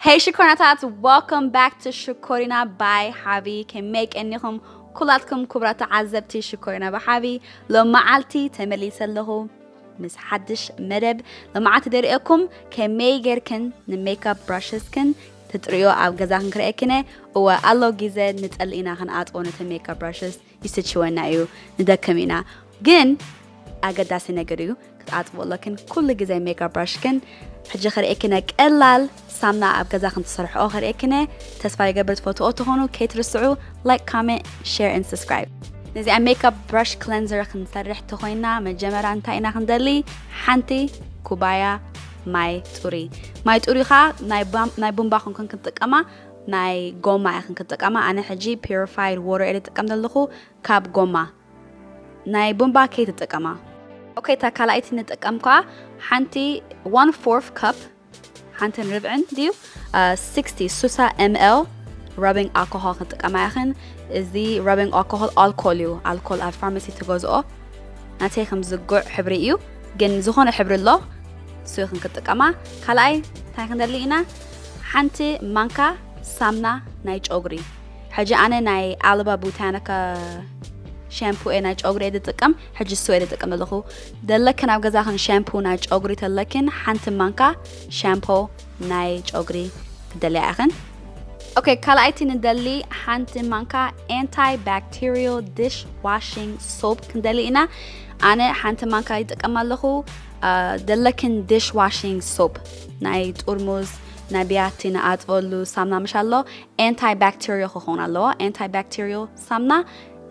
Hey ሽኮሪናታት welcome back to ሽኮሪና by ሓቢ ከመይ ቀኒኹም ኩላትኩም ክቡራት ተዓዘብቲ ሽኮሪና ብሓቢ ሎመዓልቲ ተመሊሰ ኣለኹ ምስ ሓድሽ መደብ ሎመዓልቲ ደሪኦኩም ከመይ ጌርክን ንሜካፕ ብራሽስክን ትጥርዮ ኣብ ገዛ ክንክርኤክነ እወ ኣሎ ግዜ ንጸሊ ኢና ክንኣጥቦ ነቲ ሜካፕ ብራሽስ ይስችወና እዩ ንደክም ኢና ግን ኣገዳሲ ነገር እዩ ክትኣጥቦ ኣለክን ኩሉ ግዜ ሜጋ ብራሽክን ሕጂ ከርእክነ ቀላል ሳምና ኣብ ገዛ ክንትሰርሕኦ ከርእክነ ተስፋ ይገብር ትፈትኦ ትኾኑ ከይትርስዑ ላይክ ካሜንት ሸር ን ሰስክራይብ ነዚኣ ሜካፕ ብራሽ ክለንዘር ክንሰርሕ ተኮይና መጀመርያ እንታይ ኢና ክንደሊ ሓንቲ ኩባያ ማይ ጡሪ ማይ ጡሪ ከዓ ናይ ቡምባ ክንክን ክንጥቀማ ናይ ጎማ ኢኽን ክትጥቀማ ኣነ ሕጂ ፒሪፋይድ ዎተር እየ ዝጥቀም ዘለኹ ካብ ጎማ ናይ ቡንባ ከይትጥቀማ። ኦከይ እታ ካልኣይቲ ንጥቀም ከኣ ሓንቲ ዋን ፎርፍ ካፕ ሓንትን ርብዕን ድዩ ሲክስቲ ሱሳ ኤምኤል ረቢንግ ኣልኮሆል ክንጥቀማ ኢኽን እዚ ረቢንግ ኣልኮሆል ኣልኮል እዩ ኣልኮል ኣብ ፋርማሲ ትገዝኦ ናተይ ከም ዝጉዕ ሕብሪ እዩ ግን ዝኾነ ሕብሪ ኣሎ እሱ ይኽን ክትጥቀማ ካልኣይ እንታይ ክንደሊ ኢና ሓንቲ ማንካ ሳምና ናይ ጨጉሪ ሕጂ ኣነ ናይ ኣልባ ቡታኒካ ሻምፑ እየ ናይ ጨጉሪ እየ ዝጥቀም ሕጂ እሱ እየ ዝጥቀም ዘለኹ ደለክን ኣብ ገዛኽን ሻምፑ ናይ ጨጉሪ ተለክን ሓንቲ ማንካ ሻምፖ ናይ ጨጉሪ ክደልያ ኢኽን ኦኬ ካልኣይቲ ንደሊ ሓንቲ ማንካ ኤንታይ ባክቴሪዮ ዲሽ ዋሽንግ ሶፕ ክንደሊ ኢና ኣነ ሓንቲ ማንካ ይጥቀም ኣለኹ ዘለክን ዲሽ ዋሺንግ ሶፕ ናይ ጥርሙዝ ናይ ብያቲ ንኣጥበሉ ሳምና ምሽ ኣሎ ኤንታይ ባክተሪዮ ክኸውን ኣለዎ ኤንታይ ባክተሪዮ ሳምና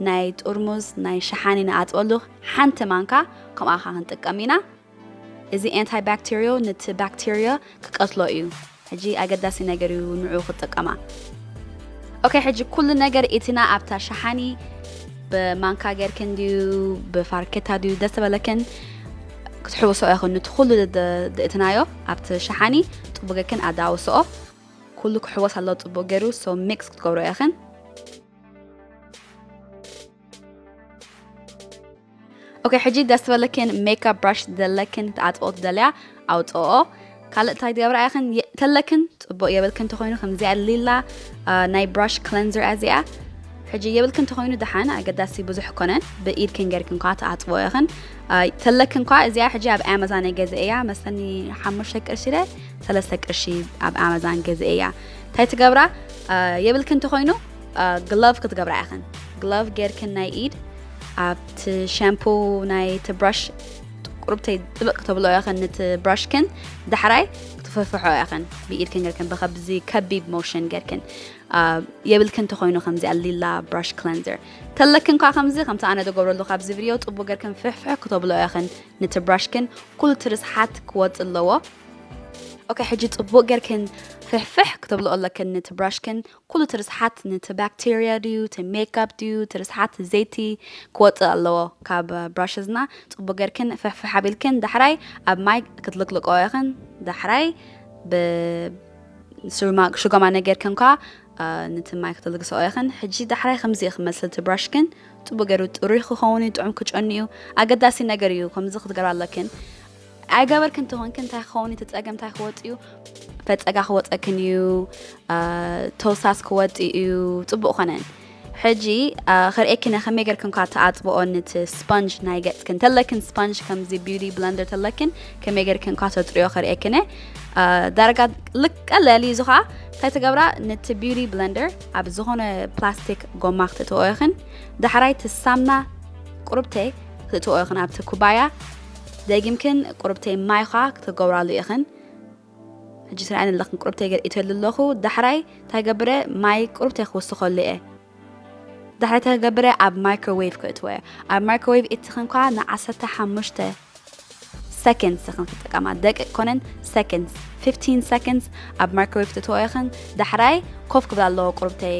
ናይ ጥርሙዝ ናይ ሸሓኒ ንኣጥበሉ ሓንቲ ማንካ ከምኣ ካ ክንጥቀም ኢና እዚ ኤንታይ ባክተሪዮ ነቲ ባክተሪዮ ክቀትሎ እዩ ሕጂ ኣገዳሲ ነገር እዩ ንዑ ክትጥቀማ። ኦከይ ሕጂ ኩሉ ነገር ኢትና ኣብታ ሸሓኒ ብማንካ ጌርክን ድዩ ብፋርኬታ ድዩ ደስ ዝበለክን ክትሕውስኦ ኢኽን ንቲ ኩሉ ድእትናዮ ኣብቲ ሸሓኒ ጽቡቅ ጌርክን ኣዳውስኦ ኩሉ ክሕወስ ኣለዎ ጽቡቅ ገይሩ ሶ ሚክስ ክትገብሮ ኢኽን ኦኬ ሕጂ ደስ በለክን ሜካፕ ብራሽ ዘለክን ክትኣጥኦ ትደልያ ኣውፅኦ ካልእ እንታይ ትገብራ ኢኽን ተለክን ፅቡቅ የብልክን እንተኮይኑ ከምዚኣ ሊላ ናይ ብራሽ ክለንዘር እያ እዚኣ ሕጂ የብልክን እንተኮይኑ ደሓን ኣገዳሲ ብዙሕ ኮነን ብኢድክን ገርክን ኳ ትኣፅቦ ኢኽን ተለክን ኳ እዚኣ ሕጂ ኣብ ኣማዛን ገዘ እያ መሰኒ ሓሙሽተ ቅርሺ ደ ሰለስተ ቅርሺ ኣብ ኣማዛን ገዘ እያ እንታይ ትገብራ የብልክን እንተኮይኑ ግሎቭ ክትገብራ ኢኽን ግሎቭ ገርክን ናይ ኢድ ኣብቲ ሻምፑ ናይቲ ብራሽ ቁርብተይ ጥብቅ ተብሎ ያኸን ንቲ ብራሽክን ዳሕራይ ክትፈፍሖ ያኸን ብኢድክን ገርክን ብከብዚ ከቢብ ሞሽን ገርክን የብልክን ተኮይኑ ከምዚ ኣሊላ ብራሽ ክለንዘር ተለክን ኳ ከምዚ ከምቲ ኣነ ደገብረሉ ካብዚ ቪድዮ ጥቡ ገርክን ፍሕፍሕ ክተብሎ ያኸን ንቲ ብራሽክን ኩሉ ትርስሓት ክወፅ ኣለዎ ኦኬ ሕጂ ፅቡቅ ገርክን ፍሕፍሕ ክተብሎ ኣለክን ንቲ ብራሽክን ኩሉ እቲ ርስሓት ንቲ ባክተርያ ድዩ እቲ ሜካፕ ድዩ እቲ ርስሓት ዘይቲ ክወጽእ ኣለዎ ካብ ብራሽዝና ጽቡቅ ገርክን ፍሕፍሕ ኣቢልክን ዳሕራይ ኣብ ማይ ክትልቅልቀኦ ኢክን ዳሕራይ ብ ስሩማ ሽጎማ ነገርክን ከኣ ንቲ ማይ ክትልግሰኦ ኢክን ሕጂ ዳሕራይ ከምዚ እዩ ክመስል እቲ ብራሽክን ጽቡቅ ገሩ ጥሩይ ክከውን እዩ ጥዑም ክጨኑ እዩ ኣገዳሲ ነገር እዩ ከምዚ ክትገብራ ኣለክን ኣይገበርክን ተኾንክ እንታይ ክኸውን እቲ ፀገም እንታይ ክወፅ እዩ ፈፀጋ ክወፀክን እዩ ተውሳስ ክወፅ እዩ ፅቡቅ ኮነን ሕጂ ክርእክነ ከመይ ገርክን ኳ ተኣፅብኦ ንቲ ስፖንጅ ናይ ገፅክን ተለክን ስፖንጅ ከምዚ ቢዩቲ ብለንደር ተለክን ከመይ ገርክን ኳ ተፅርዮ ክርእክነ ዳርጋ ልቀለል እዩ እዚ ከዓ እንታይ ትገብራ ነቲ ቢዩቲ ብለንደር ኣብ ዝኾነ ፕላስቲክ ጎማ ክትእትዎ ይኽን ዳሕራይ ትሳምና ቁርብተይ ክትእትዎ ይኽን ኣብቲ ኩባያ ደጊምክን ቁርብተይ ማይዃ ክትገብራሉ ኢኽን ሕጂ ትርኣየን ኣለኽን ቁርብተይ ገርኢተሉ ኣለኹ ዳሕራይ እንታይ ገብረ ማይ ቁርብተይ ክውስኸሉ እየ ዳሕራይ እንታይ ገብረ ኣብ ማይክሮዌቭ ክእትወ እየ ኣብ ማይክሮዌቭ እትኽን ኳ ንዓሰርተ ሓሙሽተ ሰከንድስ ኢኽን ክትጥቀማ ደቂቅ ኮነን ሰከንድስ 15 ሰከንድስ ኣብ ማይክሮዌቭ ትእትወ ኢኽን ዳሕራይ ኮፍ ክብል ኣለዎ ቁርብተይ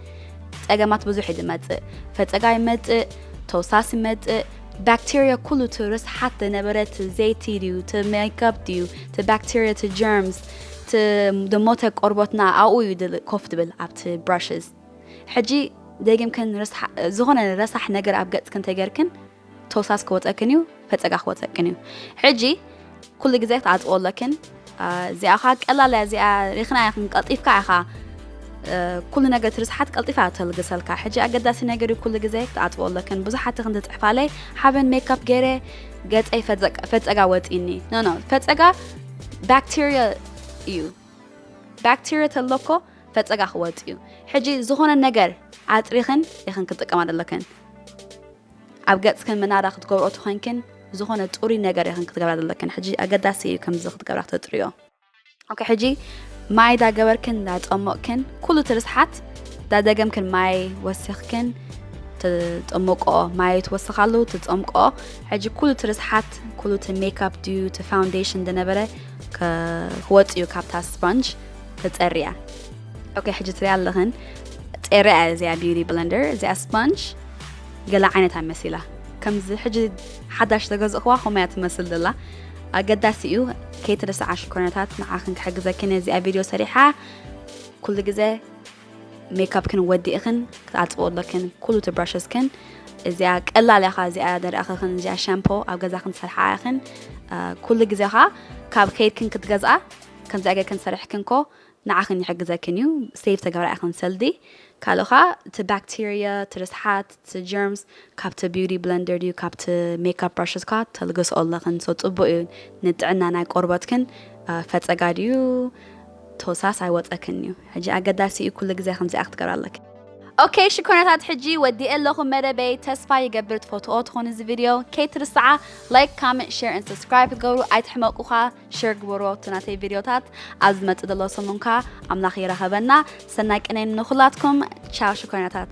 ጸገማት ብዙሕ ዝመጽእ ፈጸጋ ይመጽእ ተውሳስ ይመጽእ ባክቴርያ ኩሉ እቲ ርስሓት ዝነበረ እቲ ዘይቲ ድዩ እቲ ሜካፕ ድዩ እቲ ባክቴርያ እቲ ጀርምስ እቲ ዝሞተ ቆርቦትና ኣብኡ እዩ ድል- ኮፍ ትብል ኣብቲ ብራሽስ ሕጂ ደጊምክን ርስሓ- ዝኾነ ረሳሕ ነገር ኣብ ገጽክን ተገርክን ተውሳስ ክወፀክን እዩ ፈፀጋ ክወፀክን እዩ ሕጂ ኩሉ ግዜ ክትዓፅዎ ኣለክን እዚኣ ኸዓ ቀላል እዚኣ ሪክና ኢኽን ቀልጢፍካ ኢኻ ኩሉ ነገር ትርስሓት ቀልጢፋ ተልግሰልካ ሕጂ ኣገዳሲ ነገር ኩሉ ግዜ ክትዓፅቦ ኣለክን ብዙሓት ክንዲ ፅሕፋለይ ሓበን ሜካፕ ገይረ ገፀይ ፈፀጋ ወፂኒ ኖኖ ፈፀጋ ባክቴርያ እዩ ባክቴርያ ተለኮ ፈፀጋ ክወፅ እዩ ሕጂ ዝኾነ ነገር ኣጥሪኽን ኢኽን ክጥቀማ ዘለክን ኣብ ገጽክን ምናዳ ክትገብርኦ ተኮንክን ዝኮነ ጹሩይ ነገር ኢክን ክትገብራ ዘለክን ሕጂ ኣገዳሲ ኢዩ ከምዚ ክትገብራ ክተጥርዮ ኦኬ ሕጂ ማይ ዳ ገበርክን ዳ ጸሞቅክን ኩሉ እቲ ርስሓት ዳ ደገምክን ማይ ወሲክክን ትጠምቆ ማይ ትወስካሉ ትጸምቆ ሕጂ ኩሉ እቲ ርስሓት ኩሉ እቲ ሜካፕ ድዩ እቲ ፋውንዴሽን ዝነበረ ክወጽ እዩ ካብታ ስፖንጅ ተጸርያ ኦኬ ሕጂ ትሪያ ኣለኽን ጸርያ እዚኣ ቢዩቲ ብለንደር እዚኣ ስፖንጅ ገለ ዓይነት ኣይ መሲላ ከምዚ ሕጂ ሓዳሽ ተገዝእክዋ ከምያ ትመስል ዘላ ኣገዳሲ እዩ ከይትርስዓ ሽኮርነታት ንዓኽን ክሕግዘኪ ነዚኣ ቪድዮ ሰሪሓ ኩሉ ግዜ ሜካፕክን ወዲእኽን ክትኣፅብኦ ኣለክን ኩሉ ትብራሸስክን እዚኣ ቀላል ኢኻ እዚኣ ደሪኣኸኽን እዚኣ ሻምፖ ኣብ ገዛኽን ትሰርሓ ኢኽን ኩሉ ግዜኻ ካብ ከይድክን ክትገዝኣ ከምዚኣ ገርክን ሰሪሕክን ኮ ንዓኽን ይሕግዘክን እዩ ሴቭ ተገብራ ኢኽን ሰልዲ ካልእ ከኣ እቲ ባክተርያ እቲ ርስሓት እቲ ጀርምስ ካብቲ ቢውቲ ብለንደር ድዩ ካብቲ ሜካፕ ብራሽስ ከኣ ተልግስኦ ኣለኽን ሶ ጽቡቅ እዩ ንጥዕና ናይ ቆርበትክን ፈጸጋ ድዩ ቶሳስ ኣይወጸክን እዩ ሕጂ ኣገዳሲ እዩ ኩሉ ግዜ ከምዚኣ ክትገብራ ኣለክን። ኦከይ ሽኮርናታት ሕጂ ወዲኤ ኣለኹ መደበይ ተስፋ ይገብር ትፈትዎ ትኾኑ እዚ ቪድዮ ከይትርስዓ ላይክ ካመንት ሸር ን ሰብስክራይብ ክትገብሩ ኣይትሕመቁ ኸኣ። ሸር ግበሩ ኣብቲ ናተይ ቪድዮታት ኣብ ዝመፅእ ዘሎ ሰሙን ከዓ ኣምላኽ የራኸበና ሰናይ ቅነይ ንኹላትኩም ቻው ሽኮይናታት